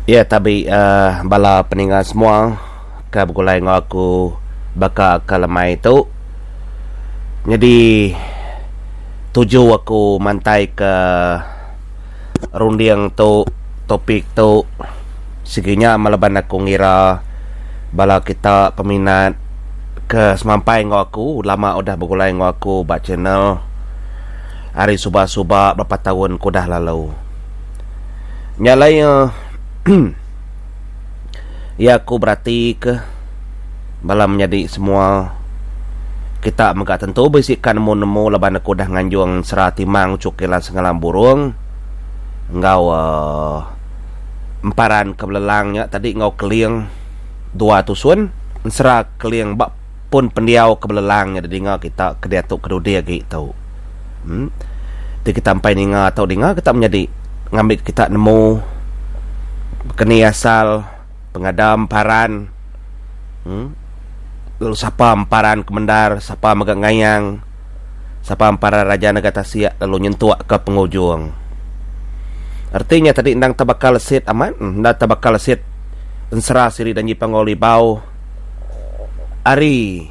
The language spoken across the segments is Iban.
Iya tabi bala peninga semua ka begulai enggau aku baka ke lemai tu nyadi tuju aku mantai ke runding tu topik tu sigi nya meh laban aku ngira bala kita peminat ke semampai enggau aku lama udah begulai enggau aku ba channel ari suba suba berapa taun ke udah lalu. Nya alai iya iya aku beratika bala menyadi semua kita mega tentu bisikan nemu-nemu laban aku dah nganjung sera timang uchu kilan sengalam burung enggau uh, emparan ke belelang nya tadi enggau keling dua tusun ensera keling ba pun pendiau ke belelang nya didinga kita ke diatu kedudi agi tu. Em. Ti kita empai ninga tu dinga kita menyadi ngambi kita nemu keni asal pengada emparan. Em. Lalu sapa emparan kemendar, sapa mega ngayang, sapa emparan raja nega tasik lalu nyentukka pengujung. Reti nya tadi endang tebaka lesit amat, enda tebaka lesit ensera siri Danji Panggau Libau. ari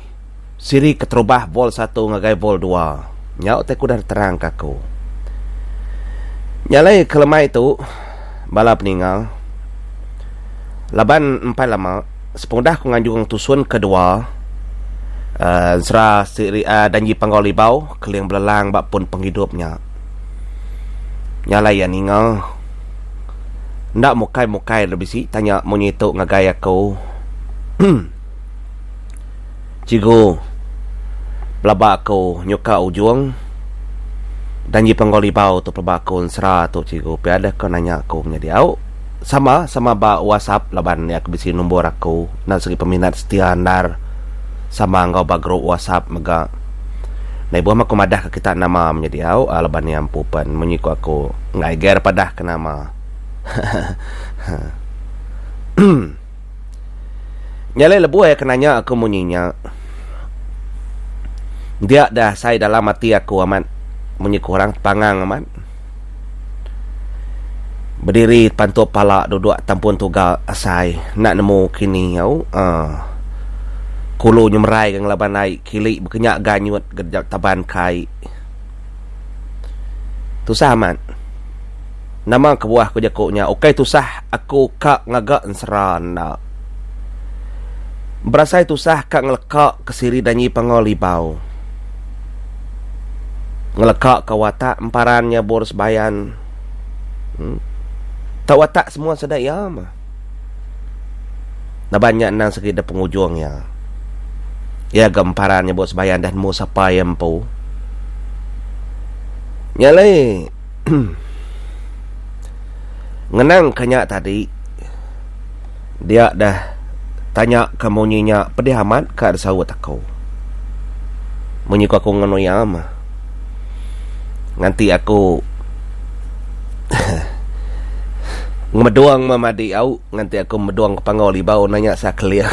siri keterubah vol satu ngagai vol dua nya utai ku udah diterangka aku. Nyalai ke lemai tu bala peninga laban empai lama sepengudah aku nganjung tusun kedua uhh ensera siri uhh Danji Panggau Libau Keling Belelang ba pun penghidup nya. Nyalai iya ninga. Enda mukai mukai enda bisi tanya munyi tu ngagai aku cikgu pelaba aku nyuka ujung dan ji penggau libau tu pelaba aku ensera tu cikgu pia deh ko nanya aku nya diau sama sama ba wasap laban iya ke bisi numbor aku enda sigi peminat setia endar sama enggau ba grup wasap mega. Meh buah meh aku madah ka kita nama menyit diau a laban ia empu pen munyi ku aku enggai ger padah ke nama hehehe. Nya alai lebuh ia ke nanya aku munyi nya dia dah sai dalam ati aku amat munyi ku orang tepangang amat. Bediri pantup pala duduk tampun tugal asai enda nemu kini au uhh kulu nyemerai ga ngelaban ai kili bekenya ganyut ga taban kai tusah amat nama kebuah ku jaku nya ukai tusah aku ka ngaga ensera enda berasai tusah ka ngeleka ke siri danyi pangau libau. ngelekaka watak emparan nya bur sebayan uhh tau watak semua sida iya mah laban nya endang segi dep pengujung iya iya ga emparan nya bur sebayan dah nemu sapa iya empu nya alai uhh ngenang ka nya tadi. Dia deh tanya ke munyi nya pedih amat ka disaut aku. Munyi ku aku nganu iya meh. Nganti aku ngemedung meh madi au nganti aku ngemedung ke panggau libau nanya sa keling.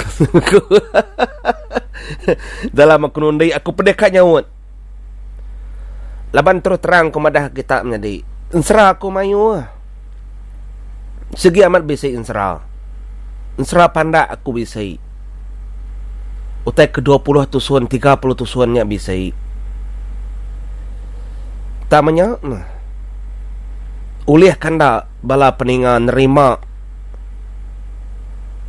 Dalam aku nundi aku pedih ka nyaut. Laban terus terang ku madah kita menyadi. Ensera aku mayuh. Sigi amat bisi ensera. Ensera pandak aku bisi. Utai ke dua puluh tusun, tiga puluh tusun nya bisi. Tama nya, ulih kanda. Bala peninga nerima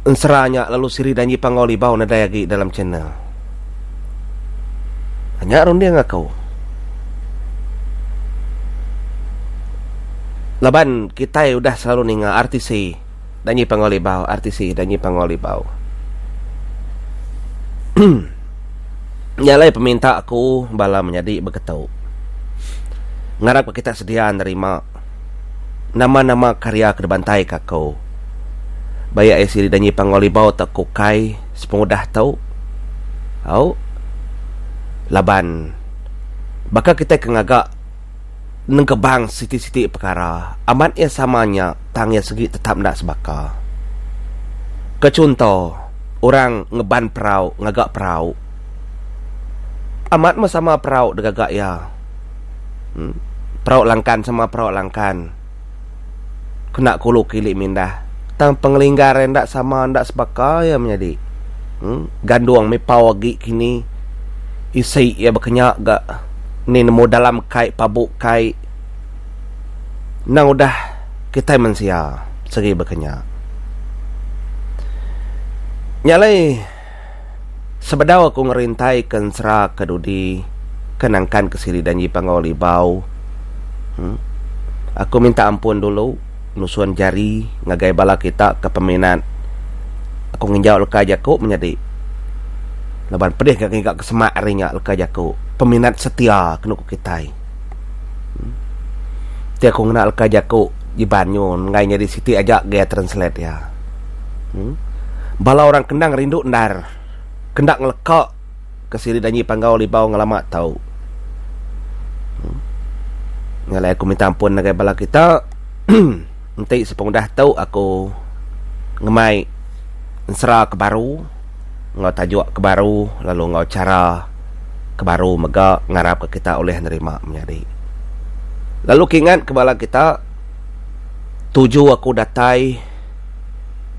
ensera nya lalu siri Danji Panggau Libau nadai agi dalam channel. Nya runding aku. Laban kitai udah selalu ninga RTC Danji Panggau Libau, RTC Danji Panggau Libau. Nya alai peminta aku bala menyadi begetu. Ngarap ka kita sedia nerima. nama-nama karya ke dibantaika aku. Baik iya sida nyanyi Panggau Libau tauka ukai sepengudah tu. Au. Laban baka kitai ke ngaga nengkebang siti-siti pekara, amat iya sama nya tang iya segi tetap enda sebaka. Ke chunto, orang ngeban perau ngaga perau. Amat meh sama perau digaga iya. Perauk langkan sama perauk langkan kena kulu kili mindah tang pengelinggar iya enda sama enda sebaka iya menyadi gandung mih pau agi kini isi iya bekenya ga ni nemu dalam kai pabu kai endang udah kitai mensia segi bekenya nya alai. Sebedau aku ngerintai ke ensera ke dudi ke nangkan ke sili danji pangau libau uhh aku minta ampun dulu nusun jari ngagai bala kita ke peminat aku nginjau leka jaku menyadi laban pedih ka ngiga ke semak ari nya leka jaku peminat setia ke nuku kitai uhh ti aku ngena leka jaku ji banyu enggai nyadi siti aja gaya translate iya. Hmm. Bala orang kendang rindu endar. Kenda ngeleka ke siri danyi panggau libau ngelama tau. Hmm. Ngalai aku minta ampun ngagai bala kita. Enti sepengudah tu aku ngemai ensera ke baru enggau tajuk ke baru lalu enggau chara ke baru mega ngarap ka kita ulih nerima menyadi. Lalu kingat ke bala kita tuju aku datai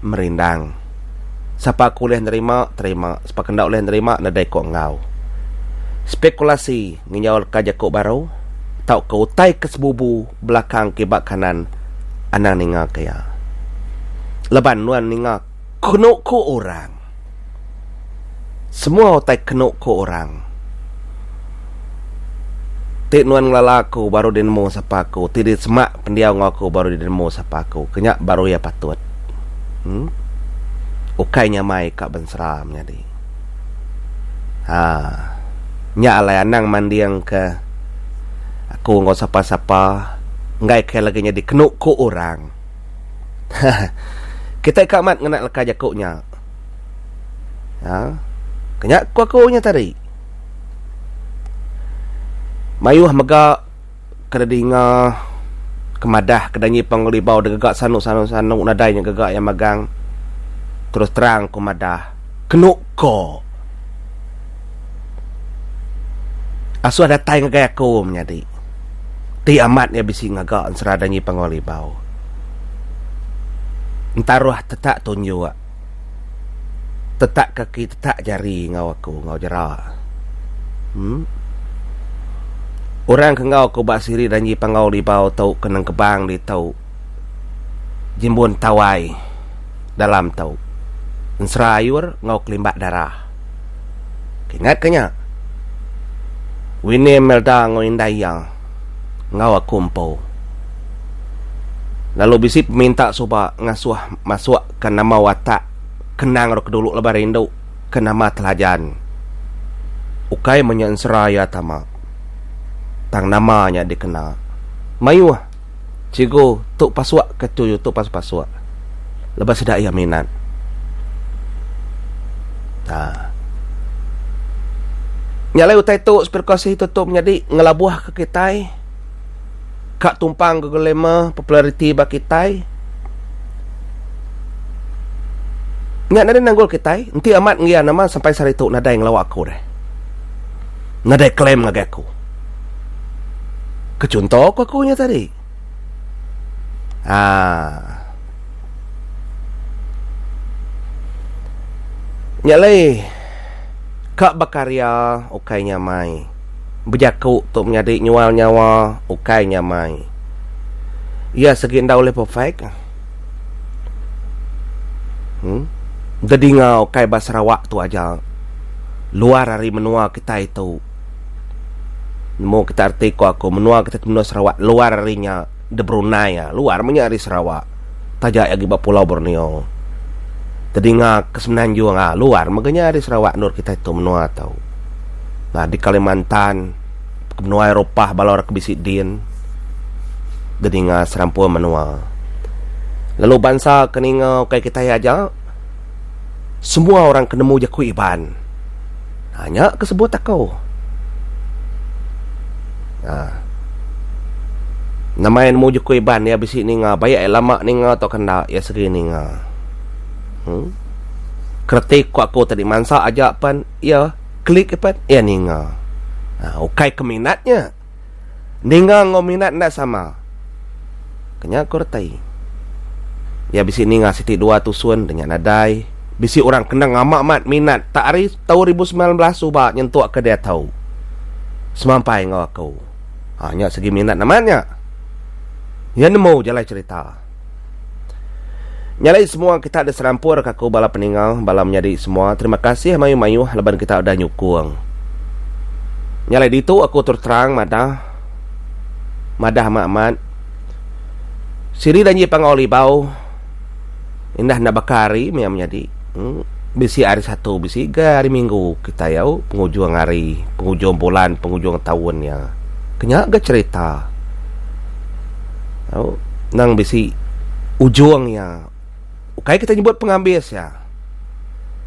merindang. Sapa ke ulih nerima, terima. Sapa ke enda ulih nerima, nadai ko enggau. Spekulasi ngenyaulka jaku baru tauka utai ke sebubu belakang kiba kanan anang ningaka iya. Laban nuan ninga kenu ku orang. Semua utai kenu ku orang. Ti nuan ngelala aku baru dinemu sapa aku, ti disemak pendiau enggau aku baru dinemu sapa aku. Ke nya baru iya patut. Em. Ukai nyamai ka bensera menyadi. Ha. Nya alai anang manding ke aku enggau sapa-sapa enggai kai lagi nyadi kenu ku orang. Kitai ka amat ngena leka jaku nya. Ha. Kenya ku aku nya tadi. Mayuh mega kada dinga kemadah kada nyi pengelibau da gaga sanu sanu sanu nadai nya gaga iya megang terus terang ku madah kenu ko asuh datai ngagai aku menyadi. Ti amat nya bisi ngaga ensera Dangi Panggau Libau. Entaroh tetak tunjuk, tetak kaki, tetak jari enggau aku enggau jera. Em. Orang ke enggau aku ba siri Dangi Panggau Libau tu ke nengkebang ditu Jimbun Tawai dalam tu. Ensera ayur enggau kelimbak darah. Ingat ke nya? Winnie Melda enggau indai iya enggau aku empu. Lalu bisi peminta suba ngasuh masukka nama watak kenang rak dulu laban rindu ke nama Telajan. Ukai menya ensera iya tama, tang nama nya dikena. Mayuh. Cikgu tu pasuk ke tu tu pas pasuk. Lebuh sida iya minat. Ha. Nya alai utai tu spirkasi tu tu menyadi ngelabuh ke kitai ka tumpang ke glamour populariti ba kitai. Nya nadai nanggul kitai enti amat ngian amat sampai sehari tu nadai ngelawa aku deh. Nadai claim ngagai aku. Ke chunto ku aku nya tadi. Haa. Nya alai ka bekaria ukai nya amai. Bejaku tu menyadi nyual nyawa ukai nya amai. Iya segi enda ulih perfect. Emm. Bedinga ukai ba Sarawak tu aja. Luar ari menua kitai tu. Nemu kita reti ko aku menua kita ti menua Sarawak luar ari nya de Brunei a luar meh nya ari Sarawak taja agi ba pulau Borneo tedinga ke semenanjung a luar mega nya ari Sarawak endur kitai tu menua tu nah di Kalimantan menua Eropah bala orang ke bisi din de ninga serampun menua lalu bansa ke ninga ukai kitai aja. Semua orang ke nemu jaku Iban. Ha, nya ke sebut aku. Ha. Nama yang nemu jaku Iban, ia bisi ninga. Baik ia lama ninga atau kenda, ia seri ninga. Hmm? Keretik ku aku tadi mansa aja pan, ia klik pan, ia ninga. Ha, ukai keminatnya. Ninga enggau minat enda sama. Ke nya ku reti. Iya bisi ninga siti dua tusun deh nya nadai. Bisi orang kena ngama amat minat tak ari tau ribu semilan belas suba nyentuk ke diatu. Semampai enggau aku. Ha nya segi minat amat nya. Iya nemu jalai cerita. Nya alai semua kita diserampur ka aku bala peningau, bala menyadi semua terima kasih mayuh-mayuh laban kita udah nyukung. Nya alai ditu aku terus terang madah madah ama amat siri danji pangau libau indah enda baka hari maya menyadi hmm, bisi hari satu bisi ga hari minggu kita yau pengujung hari pengujung bulan pengujung taun nya kenya ga cerita Au nang bisi ujung iya ukai kita nyebut pengambis iya.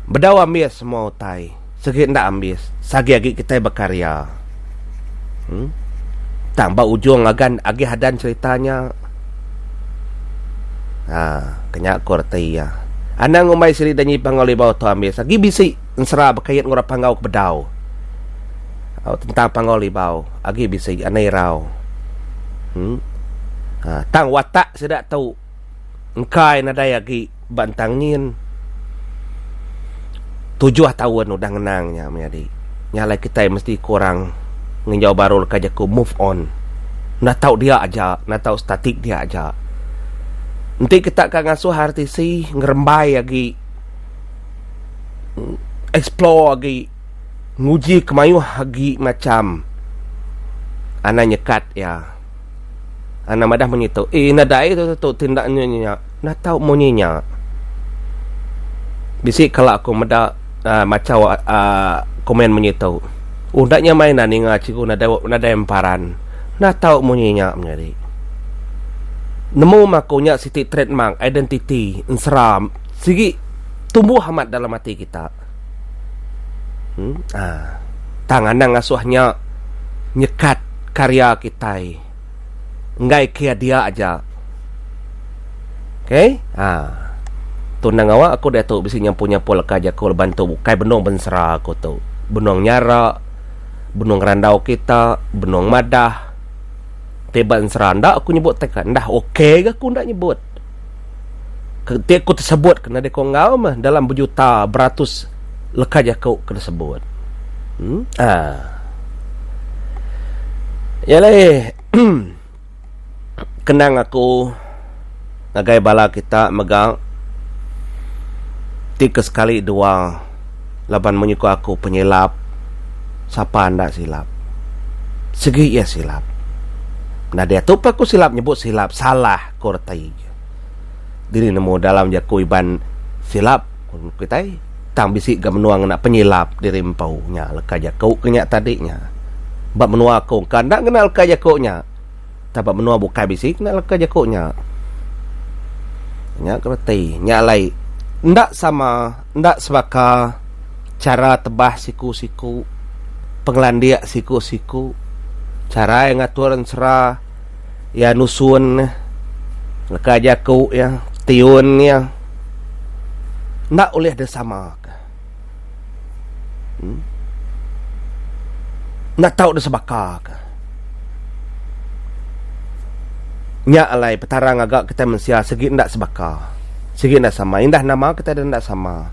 Bedau ambis semua utai sigi enda ambis sagi agi kitai bekarya. Em tang ba ujung agan agi hadan serita nya aa kenya ku reti iya. Anang ngumbai siri danyi Panggau Libau tu ambis agi bisi ensera bekait enggau orang Panggau ke bedau au tentang Panggau Libau. Agi bisi anak irau. Hm. Ha, tang watak sida tu engkai nadai agi ba entang nyin. Tujuh taun udah ngenang nya menyadi. Nya alai kitai mesti ku orang nginjau baru leka jaku move on. Enda tau dia aja, enda tau statik dia aja. Enti kita ka ngasuh RTC ngerembai agi explore agi. nguji ke mayuh agi macham anang nyekat iya. Anang madah munyi tu, eh enda ada ai tu ti enda munyi nya. Enda tau munyi nya. Bisi kala aku meda uhh machau uhh komen munyi tu. Oh enda nya meh enda ninga cikgu nadai nadai emparan. Enda tau munyi nya menyadi. Nemu meh aku nya siti trademark, identiti, ensera sigi tumbuh amat dalam ati kita. Hmm? Ha. Tang anang asoh nya nyekat karya kitai. Enggai kia dia aja. Okey? Ha. Tu endang ngawa aku diatu bisi nyampul-nyampul ka jaku laban tu bukai benung bensera aku tu. Benung nyara, benung ngerandau kita, benung madah. Ti ba ensera enda aku nyebut teka. Enda okey ga aku enda nyebut. ti aku tersebut ke nadai ko enggau meh dalam bejuta beratus leka jaku ke disebut hmm aa iya alai kenang aku ngagai bala kita mega ti ke sekali dua laban munyi ko aku penyilap sapa enda silap sigi iya silap nadai atu pun aku silap nyebut silap salah Ko retai ke. Dini nemu dalam jaku Iban silap ku kitai tang bisi ga menua ngena penyilap diri empu nya leka jaku ke nya tadi nya. Ba menua aku engka enda ngena leka jaku nya. Tang ba menua bukai bisi ngena leka jaku nya. Nya ko reti. Nya alai enda sama enda sebaka chara tebas siku-siku pengelandik siku-siku chara iya ngatur ensera. iya nusun nya leka jaku iya tiun iya enda ulih di sama ka um enda tau di sebaka ka nya alai petara ngaga kita mensia sigi enda sebaka sigi enda sama indah nama kita enda sama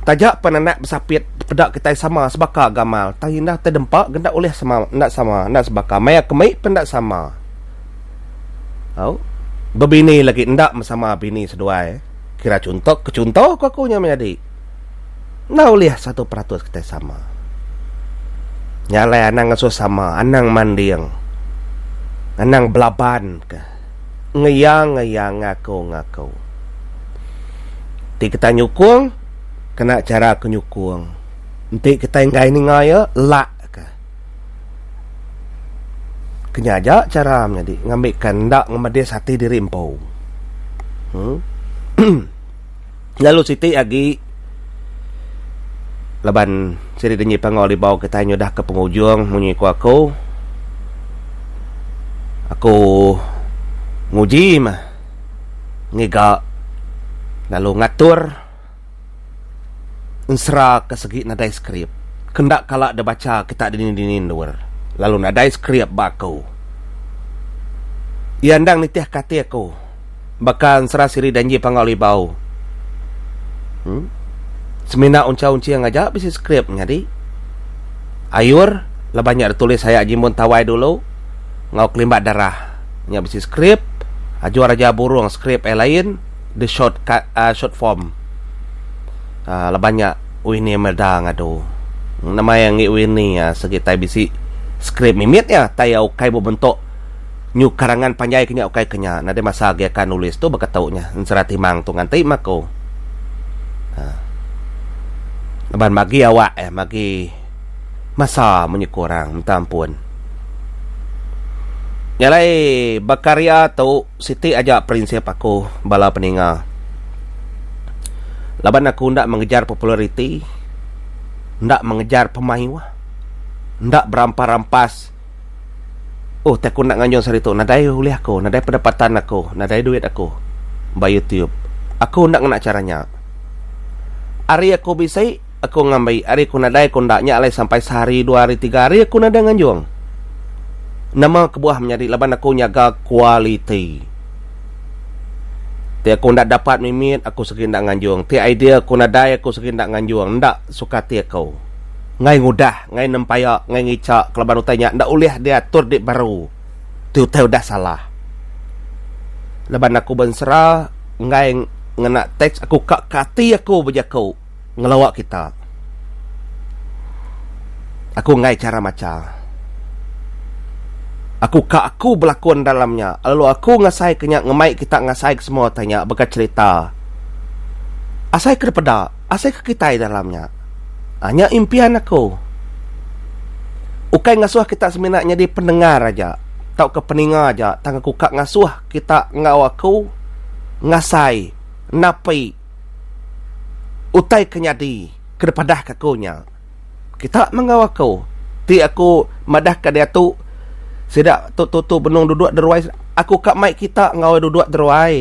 taja pan anak besapit Peda kitai sama sebaka gamal tang indah te dempa ke enda ulih sama enda sama enda sebaka maya ke mei pun enda sama. Au bebini lagi enda mesama bini seduai kira chunto ke chunto ku aku nya menyadi enda ulih satu peratus kitai sama. Nya alai anang ngesu sama anang manding anang belaban ke ngeyang ngeyang ngaku ngaku ti kitai nyukung kena chara ke nyukung enti kitai enggai ninga iya lak ka kenya aja chara menyadi ngambi ka enda ngemedis ati diri empu uhh emm lalu siti agi laban sidi dengi pangau libau kitai nyudah ka pengujung munyi ku aku aku nguji mah ngiga lalu ngatur ensera ke segi nadai skrip ke enda kala dibacha kita dini dini endur lalu nadai skrip ba aku. Iya endang nitih ke ati aku baka ensera siri danji pangau libau uhh semina unchau unching aja bisi skrip nyadi ayur laban nya ditulis aya jimun tawai dulu enggau kelimbat darah nya bisi skrip ajor aja burung skrip ai lain. The short cut uh short form uh laban nya Winnie Imelda ngadu nama iya enggi Winnie uh segi tai bisi skrip mimit iya tai iya ukai bebentuk nyuh karangan panjai ke nya ukai ke nya nadai masa agi aka nulis tu baka tu nya Ensera Timang tu ngan ti meh aku uh laban magi awak iya magi masa munyi ku orang minta ampun nya alai bekarya tu. Siti aja prinsip aku bala peninga. Laban aku enda mengejar populariti, enda mengejar pemayuh, enda berampas-rampas. Ohh ti aku enda nganjung saritu nadai ulih aku, nadai pendapatan aku, nadai duit aku ba youtube. Aku enda ngena chara nya. Ari aku bisi. Aku ngambi ari ku nadai ku enda nya alai sampai sehari dua hari tiga hari aku nadai nganjung. Nama kebuah menyadi laban aku nyaga kualiti. Ti aku enda dapat mimit aku segi enda nganjung ti idea ku nadai aku segi enda nganjung enda suka ati aku. Ngai ngudah ngai nempaya ngai ngica kelaban utai nya enda ulih diatur di baru ti utai udah salah. Laban aku bensera enggai ngena teks aku ka ke ati aku bejaku. ngelawa kita. Aku enggai chara macha. Aku ka aku belakon dalam nya lalu aku ngasai ke nya ngemai kita ngasai ke semua utai nya baka cherita. Asai ke dipeda, asai ke kitai dalam nya. A nya impian aku. Ukai ngasuh kita semina nyadi pendengar aja tauka peninga aja tang aku ka ngasuh kita enggau aku ngasai napi. utai ke nyadi ke dipadahka aku nya. Kita menggau aku ti aku madahka diatu sida tu tutu benung duduk di ruai aku ka mai kita enggau iya duduk di ruai.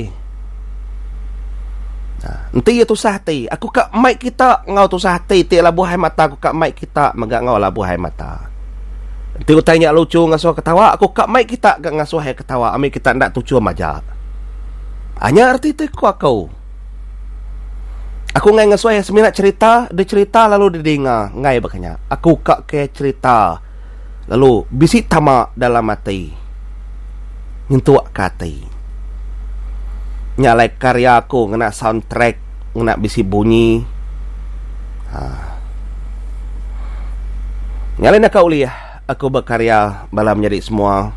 Enti iya tusah ati, aku ka mai kita enggau tusah ati ti labuh ai mata aku ka mai kita mega enggau labuh ai mata. Enti utai nya luchu ngasuh ketawa, aku ka mai kita ga ngasuh iya ketawa ami kita enda tuchum aja. Anya reti ti ku aku. Aku enggai ngesoi semina cerita, dicerita lalu didinga, enggai baka nya. Aku ka ke cerita lalu bisi tama dalam ati. Nyentuk ke ati. Nya alai karya aku ngena sound track, ngena bisi bunyi. Haa. Nya alai naka ulih. Aku bekaria bala menyadi semua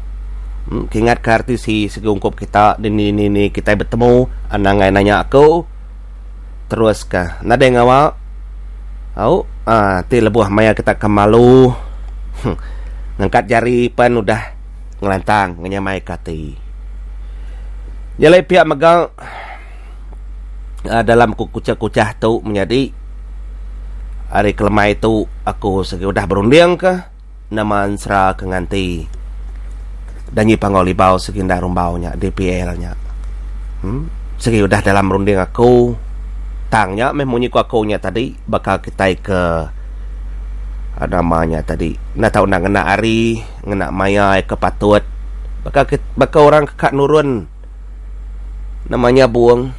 kingat ka RTC sigi ungkup kita dini dini kitai betemu anangai nanya aku terus ka nadai ngawa au ah ti lebuh maya kita ka malu huh ngangkat jari pen udah ngelantang ngenyamai ka ati nyelai pia mega. a dalam ku kuchah-kuchah tu menyadi ari kelemai tu aku sigi udah berunding ke nama ensera ke nganti dan nyi pangau libau sigi enda rumbau nya dpl nya em sigi udah dalam runding aku tang nya meh munyi ku aku nya tadi baka kitai ke a nama nya tadi enda tau enda ngena ari ngena maya ke patut baka kit baka orang ke ka nurun. Nama nyabung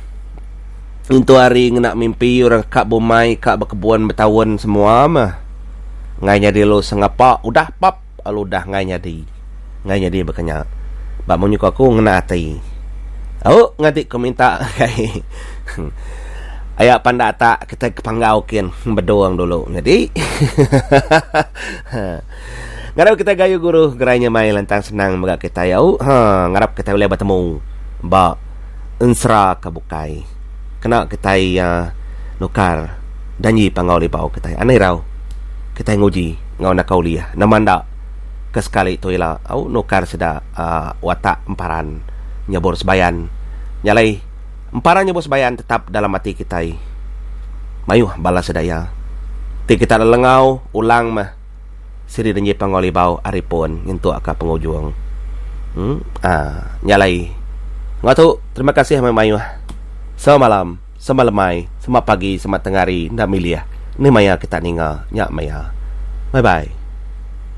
intu hari ngena mimpi orang ka bumai ka bekebun betaun semua meh ngai nyadi lu sengapa udah pap lalu udah ngai nyadi ngai nyadi baka nya ba munyi ku aku ngena ati au ngati ku minta kai aya panda tak kitai ke panggau kin bedung dulu nyadi hahaha. Ngarap kitai gayu guru gerai nyamai lantang senang mega kitai au haa ngarap kitai ulih betemu ba ensera ke bukai kena kitai aa nukar janji panggau libau kitai anai rau kitai nguji enggau naka ulih nama enda ke sekali tu ila au nukar sida aa watak emparan nyebur sebayan nyalai Empara nyebut sebayaan tetap dalam ati kitai. Mayuh bala sida iya. Ti kita enda lengau ulang meh siri denji Panggau Libau ari pun nyentuk ka pengujung. Em ah nya alai. Enggau tu terima kasih meh mayuh. Sama malam, sama lemai, sama pagi, sama tengah hari enda milih ni maya kita ninga nya maya. Bye bye.